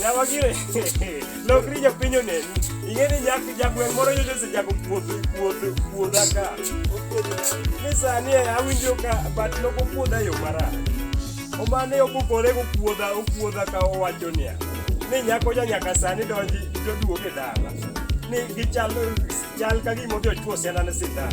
Nyawa gire. Lokri ja pinyo ne. Inge ni nyak jagweng moro yote se jago puodho puodho puodha ka. Ni sani eh, awinjo ka bat loko puodha yo mara. Omane okukore go puodha okuodha ka owacho niya. Ni nyako ja nyaka sani donji joduoge dala. Ni gichalo chal ka gimote ochwo siana ne sindan.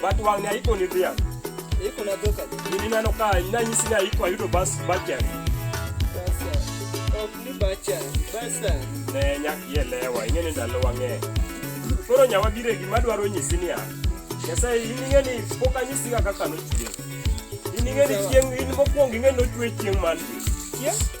But wang ne iko ni dhiang'. Iko na dhok adi? Gini neno ka nanyisi ni aiko ayudo bas bachari. Basa. Ok ni bachari. Basa. Ne nyak ielewa, ing'e ni ndalo wang'e. Koro nyawa bire gima dwaro nyisi niya. Nyasaye in ing'e ni pok anyisi ga kaka nochwe. In ing'e ni chieng' in mokwongo ing'e nochwe chieng' man. Chieng'?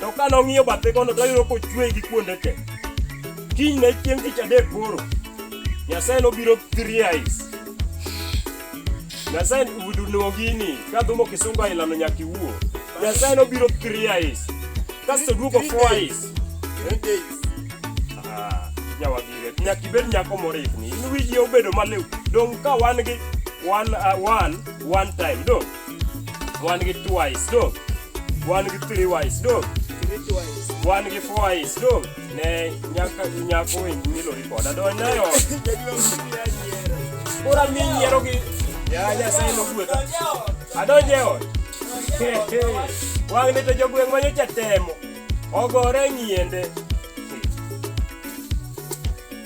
To ka nong'iyo bathe kono to oyudo kochwe gi kuonde te. Kiny ne chieng' tich adek koro. Nyasaye nobiro three eyes. Nyasaye udunuo gini ka dhumo kisungo ailano nyaka iwuo. Nyasaye nobiro three eyes. Kasto duogo four eyes. Ah, Nyawagire, nyaka ibed nyako morikni. In wiji obedo maliw. Dong' ka wan gi one, uh, one, one time. Dong'. wan gi twice do wan gi three wise do wan gi four wise do ne nyaka nyako wendi milori koda do nayo ora mi yiero gi ya nyasaye nogwedha adonje ot wang' ne to jogweng' manyo chatemo ogore nyiende